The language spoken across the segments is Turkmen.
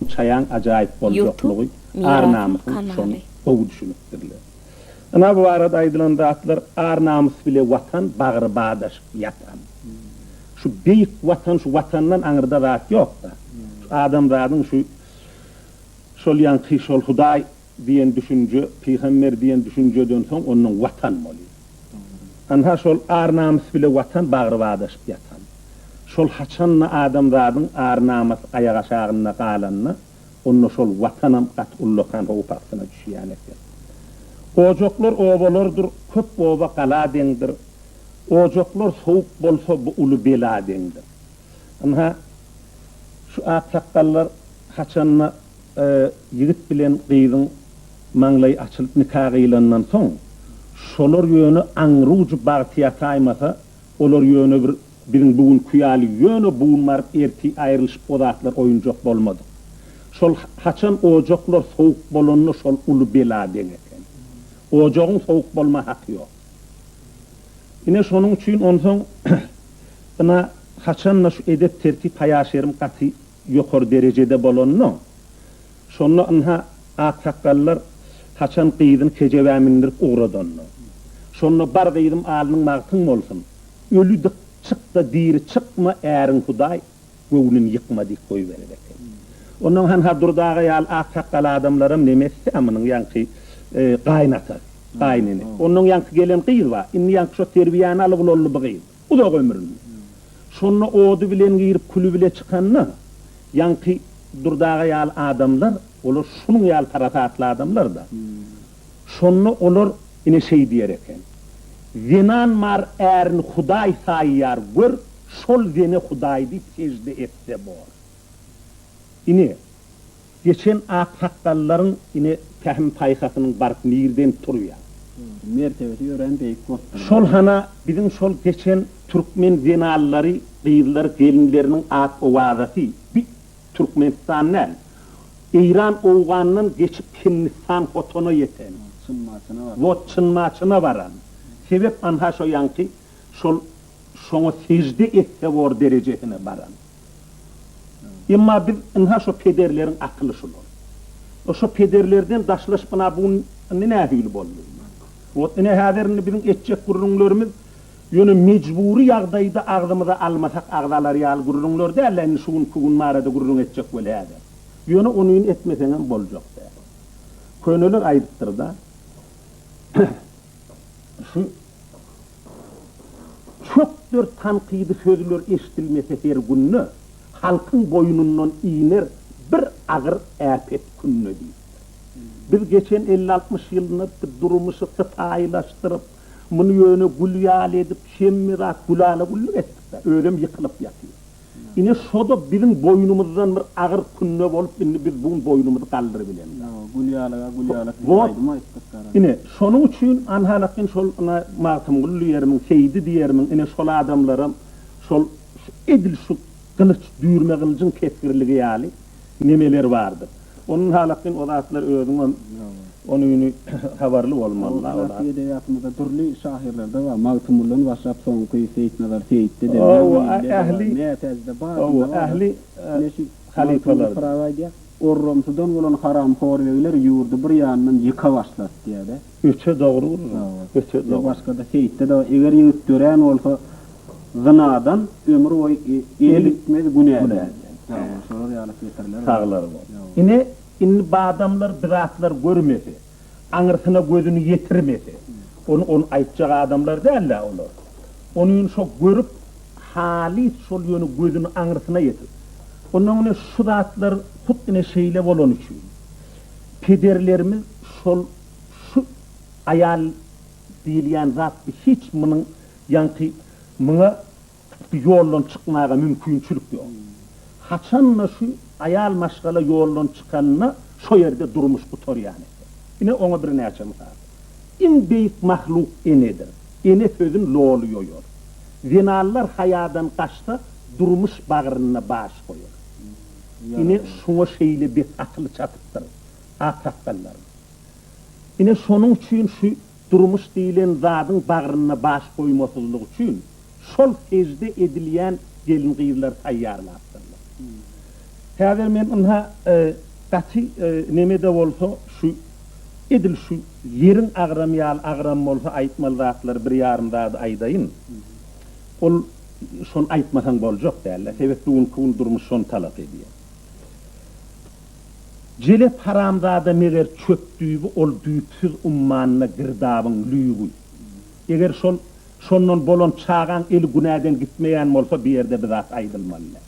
Bu çaýaň ajaýyp boljoklygy ar-namysyň şony gowy düşünipdirler. Ynha bu barada aýdylan zatlar ar-namys bile watan bagry badaşyp ýatan. Şu beýik watan şu watandan aňyrda zat ýokda. Şu adamzadyň şu şol ýaňky şol hudaý Diýen düşünje, pygamber diýen düşünjeden soň ondan watan bolýar. Ynha şol ar-namys bile watan bagry badaşyp ýatan. Şol haçanda adamzadyň ar-namasy aýak aşagynda galanda, onda şol watanam gaty ullakan howp astyna düşýän eken. Ojaklar obalardyr, köp oba gala deňdir. Ojaklar sowuk bolsa bu uly bela deňdir. Ynha şu aksakgallar haçanda Ýigit bilen gyzyň maňlaýy açylyp nika gyýlandan soň, şolar ýöne aňrujy bagty ýataýmasa, olar ýöne bir biziň bu günki ýaly ýöne bu gün baryp ertir aýrylyşyp o zatlar oýunjak bolmadyk. Şol haçan ojaklar sowuk bolanda şol uly bela deň eken. Ojagyň sowuk bolma haky ýok. Ine şonuň üçin onsoň ina haçanda şu edep-tertip haýa-şerim gaty ýokary derejede bolanynam, şonda ynha, aksakgallar haçan gyzyny kejebä mindirip ugradanyny, şonda bar gyzym alnyň magtym bolsun, öli dik çyk-da diri çykma, äriň hudaý, göwnüni ýykma diýip goýberer eken. Onnoň hanha Durdy aga ýaly aksakgal adamlaram neme etse munuň ýaňky gaýynatası, gaýynenesi. Onnoň ýaňky gelen gyz bar, indi ýaňky şo terbiýäni alyp ulaldy bu gyz. Uzak ömürli. Şonda ody bilen girip küli bile çykanda, ýaňky Durdy aga ýaly adamlar, olar şunuň ýaly parasatly adamlar-da. Şonda olar ine şeý diýer eken, Zenan mar ärini hudaý saýýar, gör, şol zene hudaý diýip sejde etse bor. Ine. Geçen aksakgallaryň ine pähim-paýhasynyň baryp nirden turýa. Mertebesi örän beýik bolupdyr. Şol hana biziň şol geçen türkmen zenanlary, gyzlary, gelinleriniň ak owazasy bi Türkmenistan däl, Eýran, Owgandan geçip Hindistan Hotona ýeten. Çyn Maçyna baran. Wot Çyn Maçyna baran. Sebäp anha şo ýanky şol şoňa sejde etse bor derejesine baran. Emma biz ynha şo pederleriň akyly şular. Şo pederlerden daşlaşyp ynha bu gün indi nähili boldy? Wot ine häzir indi biziň etjek gürrüňlerimiz ýöne mejbury ýagdaýda agzymyza almasak agzalar ýaly gürrüňler däl-de indi şu günki gün barada gürrüň etjek weli häzir. Ýöne onyny etmeseňem boljak däl. Köneler aýdypdyr-da. Şu çokdur tankydy sözler eşdilmese her günde, halkyň boýnundan iner bir agyr äpet künde diýipdir. Biz geçen elli-altmyş ýylda durmuşy sypaýylaşdyryp, muny ýöne gül ýaly edip, hemmezaty gülala-güllük etdik-dä, özem ýykylyp ýatyr. Ine şo-da biziň boýnumyzdan bir agyr künne bolup, indi biz bu gün boýnumyzy galdyrybileris. Ýok, gülýalaga gülýala siz aýdym aýtdyk gara. Ine, şonuň üçin anhalakin şol ine Magtymguly diýermiň, Seýdi diýermiň, ine şol adamlaram şol edil şu gylyç, düýrme gylyjyň kesgirligi ýaly, Nemeler bardyr. Onuň halatyn o zatlar özüňem onyny habarly bolmaly. Olar klassyk edebiýatymyzda dürli şahyrlarda bar. Magtymguldan başlap soňky Seýitnazar Seýitde-de, Mewlidide-de bar, Mätäjde bar, kimde bar-da. Ine şu Magtymguly Pyragy aýdýar, Orromsudan bolan haramhor begler ýurdy bir ýandan ýyka başlasy diýýär-de. Öte dogry guzym, öte dogry. Başgada seýitde-de bar. Eger ýigit dörän bolsa, zynadan ömür boýy eli gitmez, günä däl. Ýa-da şolar ýaly setirler. Saglar bol. Ine, indi badamlar bizatlar görmese, aňyrsyna gözüni ýetirmese, ony ony aýtjak adamlar däl-dä olar. Ony indi şo görüp, halys şol ýöne gözüni aňyrsyna ýetirip. Onnoň ine şu zatlar hut ine şeýle bolany üçin. Pederlerimiz şol şu aýal diýilýän zat bi hiç munuň ýaňky muňa bi ýoldan çykmaga mümkinçilik ýok. Haçan-da şu aýal maşgala ýoldan çykanda şo ýerde durmuş gutarýan eken. Ine oňa birnäçe mysal. Iň beýik mahluk enedir. Ene sözün loly ýoýar. Zenanlar haýadan gaçsa durmuş bagrynda baş goýar. Ine, şoňa şeýle bet atyly çatypdyr, aksakgallaryň. Ine, şonuň üçin şu durmuş diýlen zadyň bagrynda baş goýmasyzlyk üçin şol sežde edilýän gelin-gyzlary taýýarlapdyrlar. Häzir men ynha, gaty neme-de bolsa, şu, edil şu ýeriň agramy ýaly agram bolsa aýtmaly zatlary bir ýarym zady aýdaýyn. Ol. Şony aýtmasaň boljak dälä, sebet bu günki gün durmuş şony talap edýär. Jelep haramzada meger çöp düýbi ol düýpsüz ummanyna girdabyň lüýbi. Eger şol şondan bolan çagaň eli günäden gitmeýän bolsa bu ýerde bir zat aýdylmaly däl.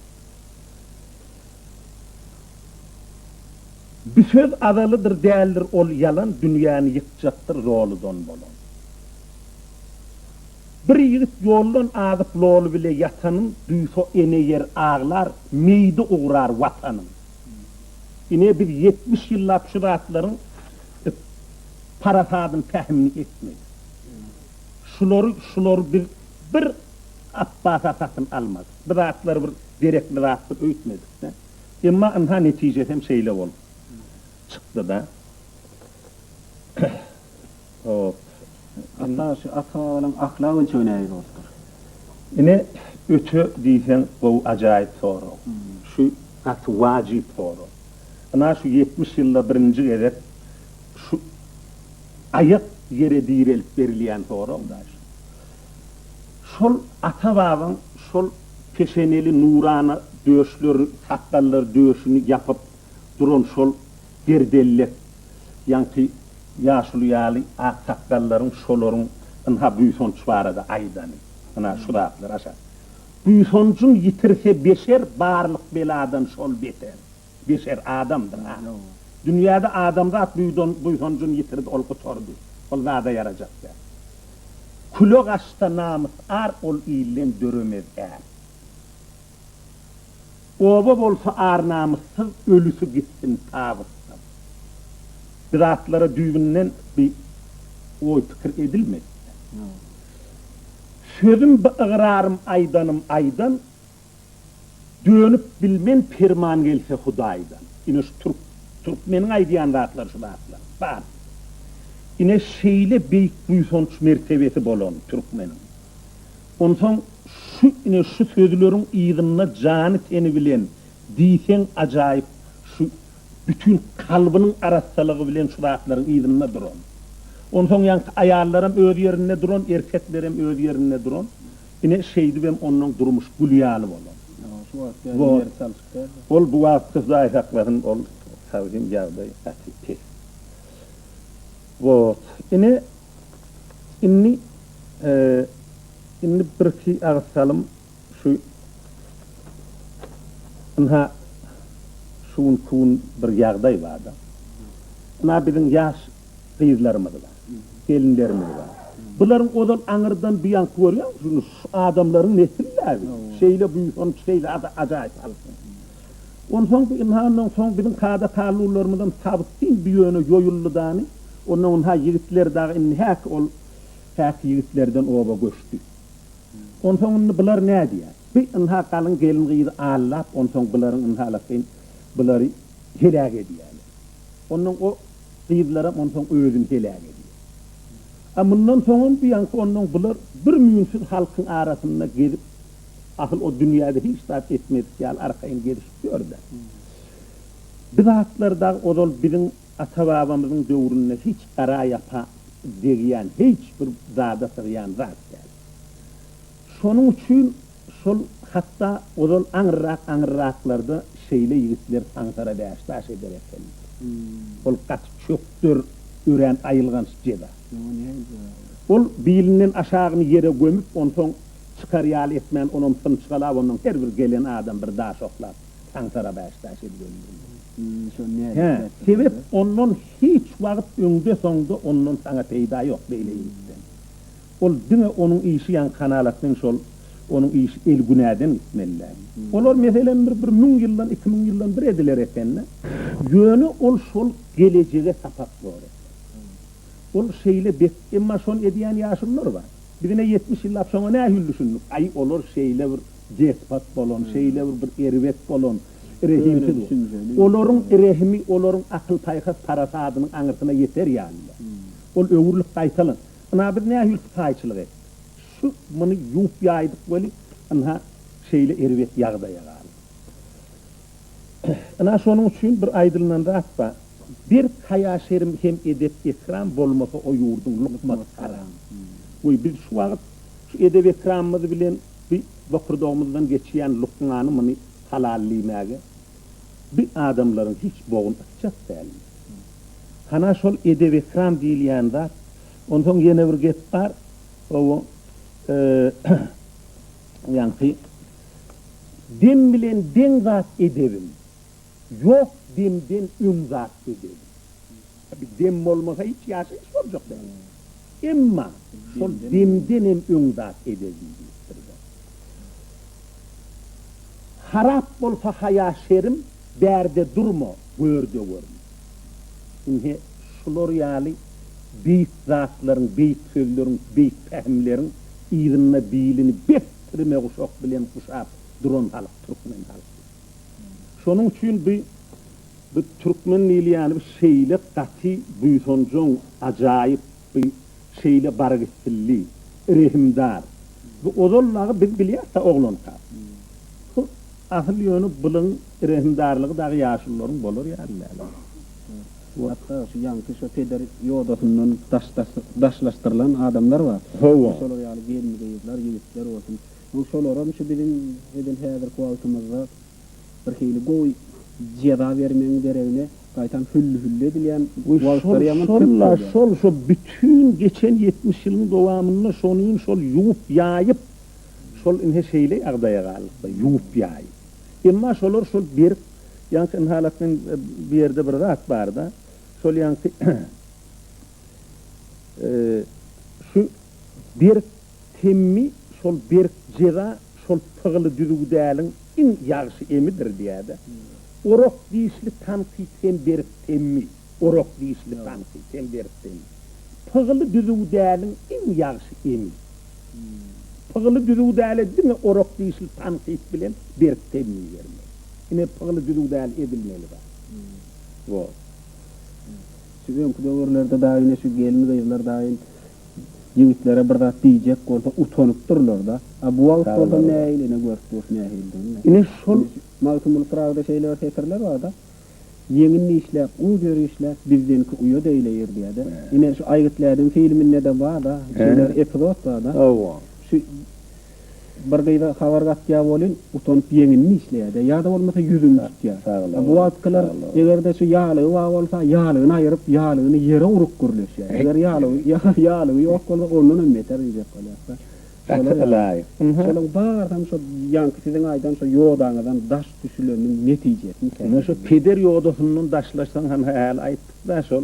Bu söz azalydyr däldir ol ýalan dünýäni ýykjakdyr zoludan bolan. Bir ýigit ýoldan azyp loly bile ýatanyn, duýsa ene ýer aglar, meýdi ugrar Watanyn. Ine biz ýetmiş ýyllap şu zatlaryň parasadyny pähimini etmedik. Şulary şulary biz bir Apbasa satyn almadyk. Bu zatlary bir gerekli zatdyr öýtmedik-de. Emma ynha netijesem şeýle bolup çykdy-da. Hop. Alla şu Akbabalaň ahlak ölçegi nähili bolupdyr? Ine öte diýseň gowy ajaýyp sorag. Şu gaty wajyp sorag. Ynha şu ýetmiş ýylda birinji gezek şu aýak ýere direlip berilýän sorag da şu. Şol ata babaň şol peşeneli nurana döşleri sakgallary döşüni ýapyp duran şol Derdellek, ýaňky ýaşuly ýaly aksakgallaryň şolaryň ynha buýsanç barada aýdany, ynha şu zatlar aşa. Buýsanjyň ýitirse beşer barlyk beladan şol beter. Beşer, adamdyr-a. Dünýäde adamzat buýdan buýsanjyny ýitirdi, ol gutardy. Ol zada ýarajak däl. Küle gaçsa namys-ar ol ilden döremez-ä. Oba bolsa ar-namyssyz ölüsi gitsin tabytdan. Bir atlara düýbünden bi oý-pikir edilmedi-de. Sözüm bi ygrarym aýdanym aýdan, dönüp bilmen perman gelse Hudaýdan. Ine şu türk türkmeniň aýdýan zatlary şu zatlar. Bar. Ine şeýle beýik buýsanç mertebesi bolan türkmeniň. Onsoň şu ine şu sözleriň yzynda jany-teni bilen diýseň ajaýyp şu bütin kalbynyň arassalygy bilen şu zatlaryň yzynda duran. Onsoň ýaňky aýallaram öz ýerinde duran, erkeklerem öz ýerinde duran. Ine şeýdibem onnoň durmuş gül ýaly bolan. Wot. Ol bu wagt Hudaý saklasyn ol sagdyn ýagdaý gaty pes. Bot. Ine, indi, indi birki agyz salym şu ynha, şu gün, şu gün bir ýagdaý bar-da. Ynha, biziň ýaş gyzlarymyz bar, gelinlerimiz bar. Bularyň ozal aňyrdan buýanky görýäňmi, şu adamlaryň nesil-dä bu. Şeýle buýsanç, şeýle ajaýyp halk. Onsoň bu ynhandan soň biziň kada tallularymyzam tabysyn bu ýöne ýoýuldydany, ondan ynha ýigitler dagy indi häk ol häk ýigitlerden oba göçdi. Onsoň indi bular nädýär? Bi ynha galyň gelin-gyzy allap, onsoň bularyň ynhalasaýyn bulary heläk edýäler. Onnoň o gyzlaram onsoň özüni heläk edýär. A mundan soňam bu ýaňky onnoň bular bir müýnsiz halkyň arasynda gezip, Asyl o dünýäde hiç zat etmedik ýaly arkaýyn gezişip ýör-de. Bir zatlar dagy ozal biziň ata-babamyzyň döwründe hiç gara ýapa degýän, hiç bir zada sygýan zat däl. Şonuň üçin şol hatda ozal aňyrrak-aňyrraklarda şeýle ýigitler saňsara bäş-daş eder eken. Ol gaty çökder örän aýylganç jeza. Ol bilinden aşagyny ýere gömüp, onsoň. Çykar ýaly etmän onam symçgalap ondan her bir gelen adam bir daş oklap taňtara bäş daş edip öldürdi. Hä, sebäp ondan hiç wagt öňde soňda ondan saňa peýda ýok beýle ýigitden. Ol diňe onuň işi ýaňy kanalatnyň şol onuň işi el günäden gitmelidä. Olar meselem bir bir müň ýyldan iki müň ýyldan bir ediler ekende. Ýöne ol şol gelejege sapak bor eken. Ol şeýle bet emma şony edýän ýaşullar bar. Bizem-ä ýetmiş ýyllap şoňa nähili düşündik? Aý, olar şeýle bir despat bolan, şeýle bir bir erbet bolan, rehimsiz bolan. Olaryň rehimi, olaryň akyl-paýhas parasadynyň aňyrsyna ýeter ýaly-da. Ol öwrülip gaýtalan. Ynha, biz nähili sypaýyçylyk etdik? Şu, muny ýuwup-ýaýdyk weli, ynha, şeýle erbet ýagdaýa galdy. Ynha, şonuň üçin bir aýdylynan zat bar. Berk haýa-şerm hem edep-ekram bolmasa o ýurduň lukmaty haram. Goý, biz şu wagt şu edep-ekramymyz bilen bi bokurdagymyzdan geçýän lukmany muny halal diýmäge bi adamlaryň hiç bogun ysjak däldi. Hana şol edep-ekram diýilýän zat, onsoň ýene bir gep bar, o ýaňky dem bilen deň zat edebim. Ýok demden öň zat gözel. Dem bolmasa hiç ýaşaýyş boljak däl. Emma şol demdenem öň zat ebedi diýipdir bir. Harap bolsa haýa şerim, bärde durma, gör-de görme. Ine, şular ýaly beýik zatlaryň, beýik sözleriň, beýik pähimleriň yzynda bilini bek tirme guşak bilen guşap duran halk türkmen halky. Şonuň üçin bi bi türkmen diýilýäni bi şeýle gaty buýsanjaň, ajaýyp, bi şeýle barygitsilli, rehimdar. Bi ozal dagy biz bilýäs-dä oglanka. Hu, asyl ýöne bulyň rehimdarlygy dagy ýaşulularyň bolar ýaly däl. Hatda şu ýaňky şo peder ýodasyndan daşdaş daşlaşdyrylan adamlar bar. Hawa. Şolar ýaly gelin-gyzlar, ýigitler bolsun. Bu şolaram şu biziň edil häzirki wagtymyzda birhili gowy jeza bermegiň deregine gaýtam hülli-hülli edilýän wagtlary ýaman köp bolýar. Şol-şolla şol şu bütin geçen ýetmiş ýylyň dowamynda şonuň şol ýuwup-ýaýyp şol ine şeýle ýagdaýa galdyk-da ýuwup-ýaýyp. Emma şolar şol berk ýaňky Inhalatnyň bu ýerde bir zat bar-da şol ýaňky şu berk Temmi şol berk jeza şol pygyly düzüwdäliň iň ýagşy emidir diýädä. Orak dişli tankyt hem berk temmi. Orak dişli tankyt hem berk temmi. Pygyly düzüwdäliň iň ýagşy emi. Pygyly düzüwdälä diňe orak dişli tankyt bilen berk temmi bermeli. Ine pygyly düzüwdäl edilmeli zat. Woo. Şu öňki döwürlerde dagy ine şu gelin gyzlar dagy Ýigitlere bir zat diýjek bolsa utanypdyrlar-da. A bu wagt bolsa nähili ene görüp dur nähilidigini. Ine şol Magtymguly Pyragyda şeýle bir setirler bar-da, Ýeňin işläp, uz ýör işläp, bizdenki uýa deýleýir diýer-de. Ine şu Aýgytly ädim filminde-de bar-da, şeýle bir epizod bar-da. Hawa. Şu Bir gyza habar gatýa bolin utanyp ýeňini dişleýädä ýada bolmasa ýüzüni tutýa. A bu wagtkylar egerde şu ýalygy bar bolsa ýalygyny aýyryp ýalygyny ýere urup gürleşýä. Eger ýalygy ýalygy ýok bolsa ondanam beter injek bolýasda. Gaty ylaýyk. Şolaň barsam şo ýaňky siziň aýdan şo ýodaňyzdan daş düşüleniniň netijesini. Ine şu peder ýodasyndan daşlaşsaň hany häli aýtdykda şol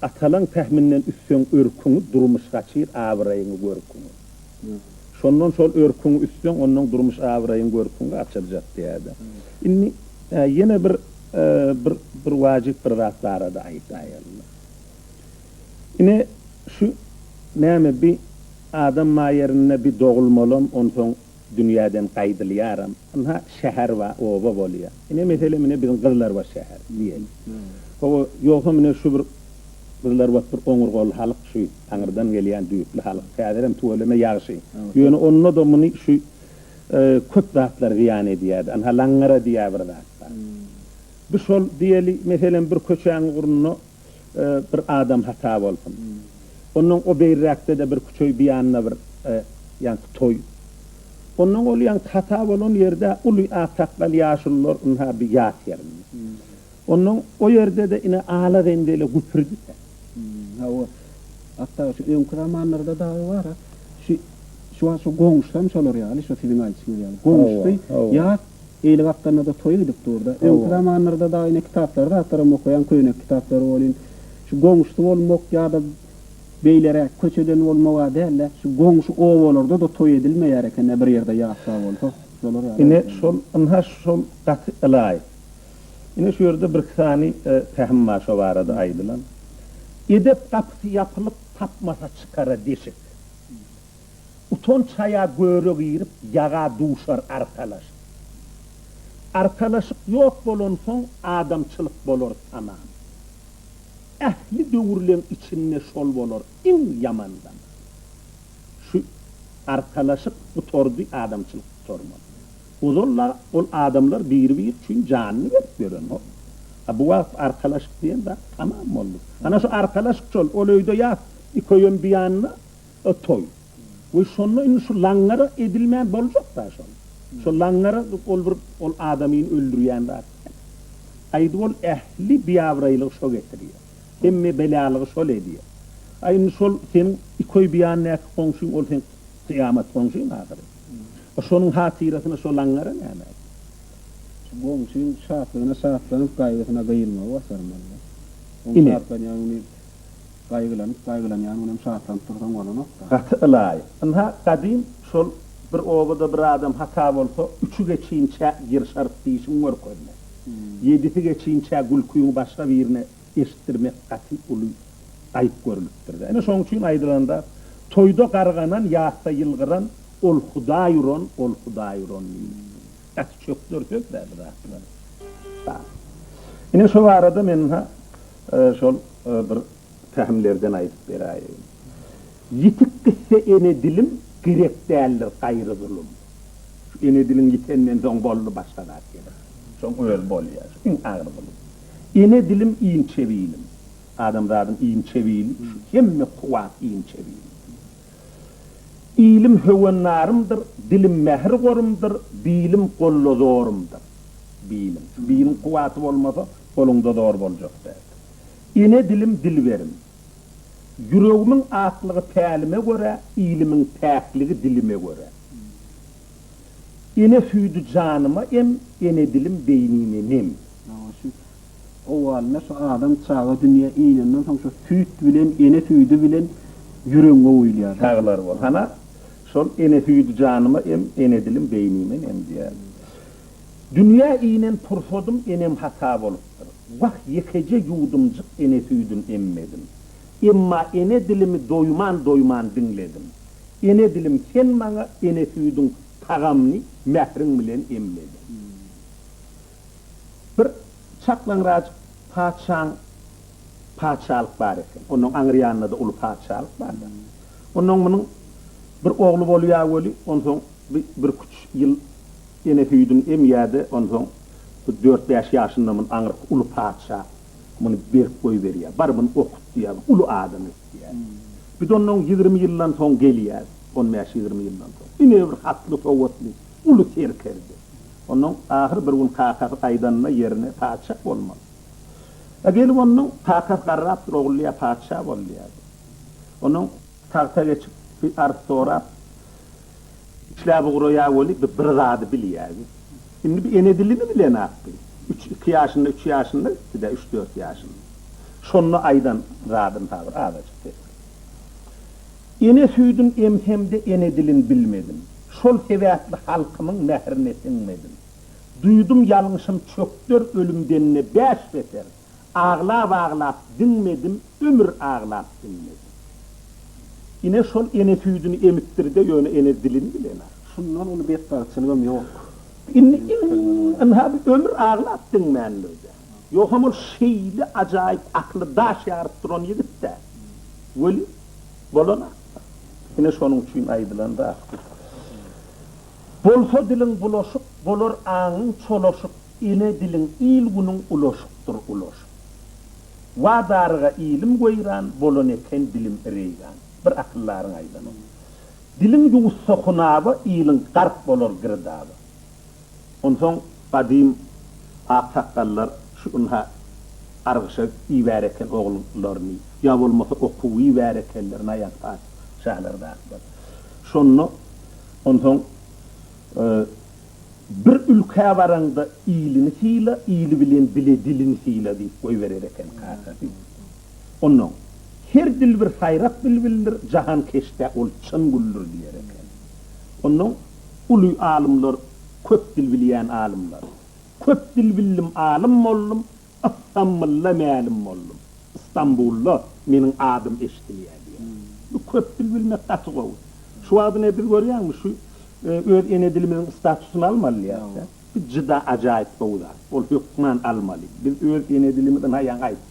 Atalaň pähminden üsseň örküňi durmuş gaçyr abyraýyňy görküňi. Şondan şol örküňi üsseň onnoň durmuş abyraýyň görküňi açyljak diýädä. Indi ýene bir bir bir wajyp bir zat barada aýtaýalyň. Ine şu näme bi adam maýerinde bi dogulmalam onsoň Dünýäden gaýdylýaram. Ynha, şäher bar, oba bolýar. Ine, meselem, ine, biziň Gyzlarbat şäher diýeli. Hawa, ýogsam, ine, şu bir Gyzlarbat bir oňurgaly halk, şu aňyrdan gelýän düýpli halk. Häzirem tüweleme ýagşy. Ýöne onda-da muny şu köp zatlar zyýan edýär-de. Ynha, laňňara diýýär bir zat bar. Bu şol, diýeli, meselem, bir köçäň ugrunda. bir adam hata bolsun. Onnoň o beýrräkde-de bir küçeý bu ýanda bir ýaňky toý. Onnoň ol ýaňky hata bolan ýerde uly aksakgal ýaşulylar ynha bir ýat ýerinde. Onnoň o ýerde-de ine ala reňde ele güpürdise. Hawa. Hatda şu öňki zamanlarda dagy bar-a. Şu şu wagt şu goňşusam şolar ýaly, şu siziň aýdyşyňyz ýaly. Goňşusy ýat. Eýle wagtlarynda-da toý gidip dur-da. Öňki zamanlarda dagy ine kitaplary zatlaram okaýan, köýnek kitaplary welin, şu goňşusy bolmak ýa-da beýleräk köçeden bolmaga däl-de, şu goňşy obalarda-da toý edilmeýär eken-dä bir ýerde ýatlap bolsa. Şolar ýaly. Ine şol, ynha şol gaty ylaýyk. Ine şu ýerde birki sany pähim bar şo barada aýdylan. Edep gapysy ýapylyp, tapmasa çykara deşik. Utanç haýa göre girip ýaga duşar arkalaşyk. Arkalaşyk ýok bolansoň adamçylyk bolar tamam. Ähli döwürleň içinde şol bolar iň ýaman zaman. Şu arkalaşyk gutardy adamçylyk gutarmaz. Ozal-la ol adamlar biri-biri üçin janyny berip ýörenok. A bu wagt arkalaşyk diýen zat tamam boldy. Ana şu arkalaşyk şol, ol öýde ýat, iki öýem biýanyna, O toý. We şonda indi şu laňňara edilmän boljak-da şol. Şo laňňara ol bir ol adamyny öldürýän zat däl. Aýdyp ol ähli biabraýlygy şo getirýär. Hemme belalygy şol edýär. A indi şol seň iki oý biýandaky goňşyň ol seň kyýamat goňşyň ahyry. A şonuň hatyrasyna şo laňňara näme edýär? Şu goňşyň şatlygyna şatlanyp gaýgysyna gyýylmagy başarmaly-da. Oň şatlanýan güni. Gaýgylanyp gaýgylanýan günem şatlanyp dursaň bolanokda. Gaty ylaýyk. Ynha, gadym şol Bir obada bir adam hata bolsa, üçi geçinçä ýyrşaryp dişiňi görkezmek, ýedisi geçinçä gülküňi başga birine eşitdirmek gaty uly aýyp görülipdir-dä. Ine, şonuň üçin aýdylanda, Toýda garganan, ýasda ýylgyran, ol Hudaý uran, ol Hudaý uran diýilipdir. Gaty çökder söz-dä bu zatlar. Ine, şo barada men ynha, Şol bir pähimlerden aýdyp beräýeýin. Ýitik gitse ene dilim, gerek däldir gaýry zulum. Şu ene diliň ýitenden soň boldy başga zat gerek. Şoň özi bolýar. Şu iň agyr zulum. Ene dilim inçe bilim. Adamzadyň inçe bili, şu hemme kuwwat inçe bilim. Ilim höwennarymdyr, dilim mähir gorumdyr, bilim golda zorumdyr. Bilim. Şu biliň kuwwaty bolmasa, goluňda zor boljak däl. Ene dilim dilberim. Ýüregimiň aklygy pälime görä, ilimiň päkligi dilime görä. Ene süýdi janyma em, ene dilim beýnime nem. Owalynda şu adam çaga dünýä inenden soň şu süýt bilen, ene süýdi bilen ýüregiň gowyýylýar. Saglar bol. Hana, şol ene süýdi janyma em, ene dilim beýnime nem diýýär. Dünýä inen pursadym enem hata bolupdyr. Wah, ýekeje ýuwdumjyk ene süýdün emmedim. Emma ene dilimi doýman-doýman diňledim. Ene dilim sen maňa ene süýdüň tagamyny mähriň bilen emlediň. Bir çaklaňrajyk patyşaň patyşalyk bar eken. Onuň aňry ýanynda-da uly patyşalyk bar-da. Onnoň munuň bir ogly bolýar weli, onsoň bi birküç ýyl ene süýdüni emýär-de, onsoň bir dört-bäş ýaşynda muny aňyrky uly patyşa muny berip goýberýär. Bar, muny okut diýýär, bu uly adam et diýýär. Bir-de onnoň ýigrimi ýyldan soň gelýär, on bäş-ýigrimi ýyldan soň. Ine, bir hatly-sowatly, uly serkerde. Onnoň ahyr bir gün kakasy gaýdanda ýerine patyşah bolmaly. A gelip onnoň kakasy garrapdyr ogulýa patyşah bol diýýärdi. Onnoň tagta geçip bir arz sorap işläp ugraýa weli bi bir zady bilýärdi. Indi bi ene dilini bilenap bi. Üç iki ýaşynda üç ýaşynda gitdidä üç dört ýaşynda. Şonda aýdan zadyn ha bir azajyk ses. Ene süýdün emsem-de ene dilin bilmedim. Şol sebäpli halkymyň mährine siňmedim. Duýdum ýalňyşym çökder ölümden-de bäş beter. Aglap-aglap diňmedim, ömür aglap diňmedim. Ine şol ene süýdüni emipdir-de, ýöne ene dilini bilenok. Şundan uly betbagtçylygam ýok. Indi ynha bu ömür aglap diňmändir-de. Ýogsam ol şeýle ajaýyp akly daş ýaryp duran ýigit-dä weli. Bolana, ine şonuň üçin aýdylan zatdyr. Bolsa diliň bulaşyk, bolar aňyň çolaşyk, ene diliň il-günüň ulaşykdyr ulaşyk. Wa daryga ilim weýran, bolan eken dilim reýgan. Bir akyldaryň aýdany. Diliň ýuwutsa hunaba, iliň gark bolar girdaba. Onsoň gadym aksakgallar şu ynha gargyşa ibär eken oglullaryny, ýa bolmasa okuwa ibär ekenler Naýaz patyşalardakylar. Şonda onsoň Bir ülkä baraňda iliňi syla, ili bilen bile diliňi syla diýip goýberer eken kakasy. Onnoň Her dilbir saýrak bilbildir, jahan keşdä ol çyn güldür diýer eken. Onnoň Uly alymlar köp dil bilýän alymlar. Köp dil bildim alym boldum Ystamblda mälim boldum Ystambulda meniň adym eşdilýä diýýä. Bu köp dil bilmek gaty gowy. Şu wagt ine biz görýäňmi şu öz ene dilimiziň statusyny almalyýasda. Bu juda ajaýyp gowy zat. Ol hökman almaly. Biz öz ene dilimizi naýa gaýtdyk.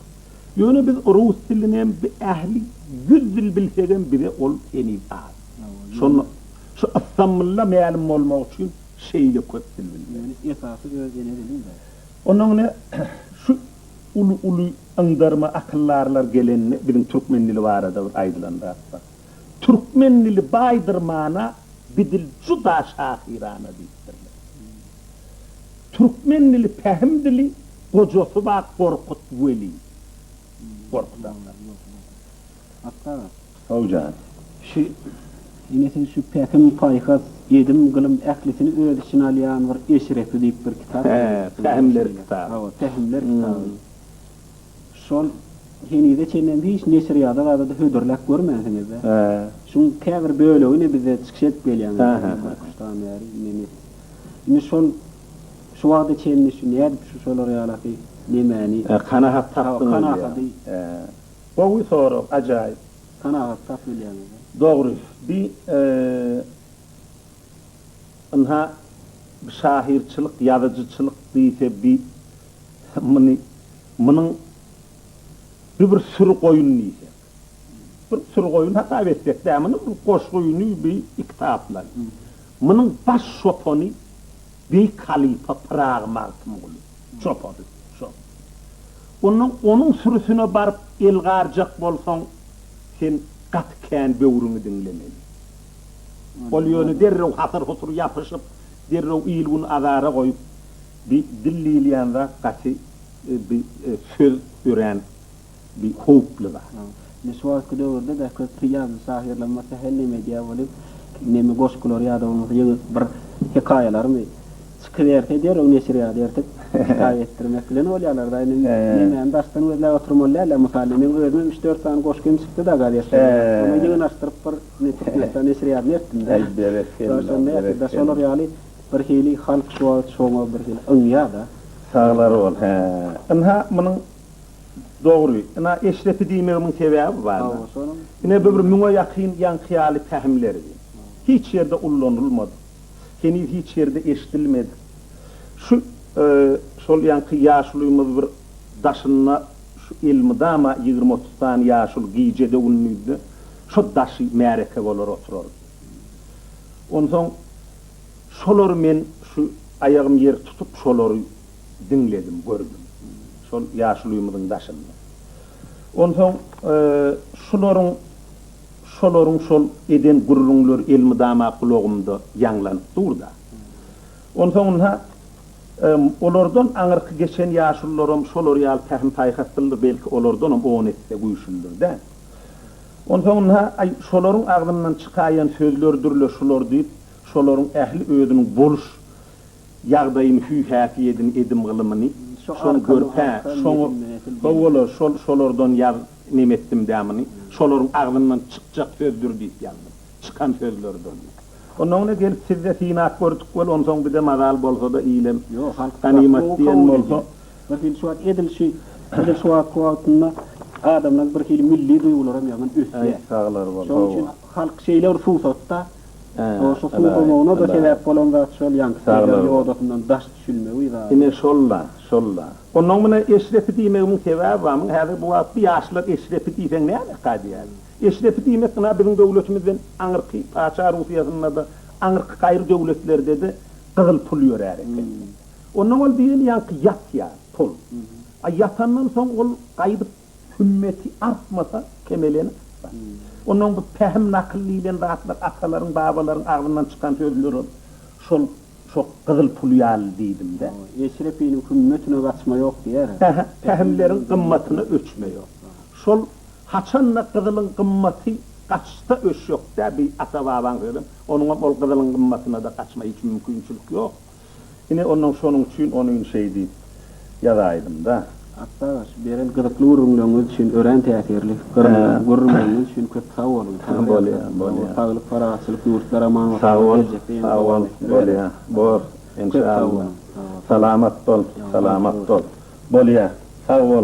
Ýöne biz rus dilinem bi ähli ýüz dil bilsegem bize ol heniz az. Şonda şu Ystambulla mälim bolmak üçin şeýle köp dil bilmeli. Ýöne esasy öz ene diliň däl. Ondan ine şu uly uly yňdarma akyllarlar gelende biziň türkmen dili barada bir aýdylan zat bar. Türkmen dili baýdyr mana bidil juda şahyrana diýipdirler. Türkmen dili pähim dili gojasy ba Gorkut weli. Gorkut aga. Atda aga. Saw jan. Şu ine siz şu pähim paýhas edim gylym ählisini öz içine alýan bir eşrefli diýip bir kitap ýazypsyňyz. He pähimler kitaby. Hawa pähimler kitaby. Şol henize çenlem hiç neşirýada zada-da hödürläp görmänsiňiz-dä? Hä. Şuň käbir bölegini bize çykyş edip gelýäňiz. Hä, hä, hä. Kuşdan bäri nemes. Indi şol şu wagta çenli şu nädip şu şolar ýalaky nemäni. Hä, kanagat tapdyňyz diýýäň. Kanagady. Hä. Gowy sorag, ajaýyp. Kanagat tap bilýäňiz-dä. Dogry. Bi ynha şahyrçylyk, ýazyjyçylyk diýse bi Muny, munuň bir bir süri goýun diýsek. Bir süri goýun hasap etsek dä, muny bir goşgyny bi iki taplan. Munuň baş çopany beýik halypa Pyragy Magtymguly çopany şo. Onnoň onuň sürüsine baryp el garjak bolsaň, sen gaty kän böwrüňi diňlemeli. Ol ýöne derrew hasyr-husur ýapyşyp, derrew il-gün azara goýup, Bi dil diýilýän zat gaty bi söz örän bi howply zat. Indi şu wagtky döwürde de köp bi ýazyjy şahyrlar bolmasa her neme edýär bolup, neme goşgular ýa-da bolmasa ýeňil bir hekaýalarmy çykyberse derrew neşir ýa-da ertip kitap etdirmek bilen bolýarlar-da. Indi nemäni daşdan gözläp oturmaly däl-de. Mysal meň özümem üç-dört sany goşgym çykdy-da gazette. Şonuň ýygnaşdyryp bir Türkmenistan neşirýadyna ertdim-de. Berekella, berekella. Şolar ýaly. Bir hili halk şu wagt şoňa bir hili yňýada. Saglar bol. Hä. Ynha munyň dogry. Ina Eşrepi diýmegimiň sebäbi barda. Ine bu bir müňe ýakyn ýaňky ýaly pähimlerdi. Hiç ýerde ullanylmadyk. Heniz hiç ýerde eşidilmedik. Şu şol ýaňky ýaşulymyz bir daşynda şu elmydama ýigrimi-otuz sany ýaşuly gijede-gündizde şo daşy märeke bolar oturardy. Onsoň şolary men şu aýagym ýer tutup şolary diňledim, gördüm. Şol ýaşuly öýümiziň daşynda. Onsoň şularyň şolaryň şol eden gürrüňleri elmydama gulagymda ýaňlanyp dur-da. Onsoň ynha, olardan aňyrky geçen ýaşulularam şolar ýaly pähim-paýhaslydyr, belki olardanam on esse güýçlüdir-dä. Onsoňna, aý, şolaryň agzyndan çykaýan sözlerdür-le şular diýip, şolaryň ähli özüniň boluş ýagdaýyny, hüý-häsiýedini, edim-gylymyny şoň görüp-ä, şoňa, ho-ola, şol, şolardan ýaz, neme etdim-dä muny, şolaryň agzyndan çykjak sözdür diýip ýazdym. Çykan sözlerdür diýip. Onsoňna gelip siz-de synap gördük weli, onsoň bir-de mazal bolsa-da ilem, ganymat diýen bolsa, Bir hili şu wagt edil şu edil şu wagtky wagtynda adamlaň bir hili milli duýgularam ýaman ösýär. Äý saglar bol, Şonuň üçin hawa. halk şeýle bir suw sotda. Ä, O şu suw alaý, somagyna-da alaý. sebäp bolan zat şol ýaňky Saglar peýdaly bol. ýodasyndan daş düşülmegi zady. Ine şol-la, şol-la. Onnoň menä Eşrepi diýmegimiň sebäbi bar. Muňa häzir bu wagtky ýaşlar Eşrepi diýseň näme eka diýýär. Eşrepi diýmek ynha biziň döwletimizden aňyrky Paça Russiýasynda-da, aňyrky gaýry döwletlerde-de gyzyl pul ýörär eken. Ondan ol diýilýänki ýatýar, tol. A ýatandan soň ol gaýdyp hümmeti artmasa, kemeleni artsa. Ondan bu pähim, nakyl diýilen zatlar atalaryň, babalaryň agzyndan çykan sözlerem şol şo gyzyl pul ýaly diýdim-dä. Eşrepiniň hümmetine gaçma ýok diýýär. Hä-hä, pähimleriň gymmatyna öçme ýok. Şol haçan-da gyzylyň gymmaty gaçsa öçjek-dä, bi ata-babaň sözem. Onuňam ol gyzylyň gymmatyna-da gaçma hiç mümkinçilik ýok. Ine, onnoň şonuň üçin ony ün şeý diýip ýazaýdym-da. Atbagaç, beren gyzykly gürrüňleriňiz üçin örän täsirli gürrüňleriňiz üçin köp sag boluň! Bolýa, bolýa. Saglyk, parahatçylyk, ýurtlar aman bolsun! Sag bol, sag bol, bolýa, bor, enşalla. Köp sag boluň! Salamat bol, salamat bol! Bolýa, sag bol!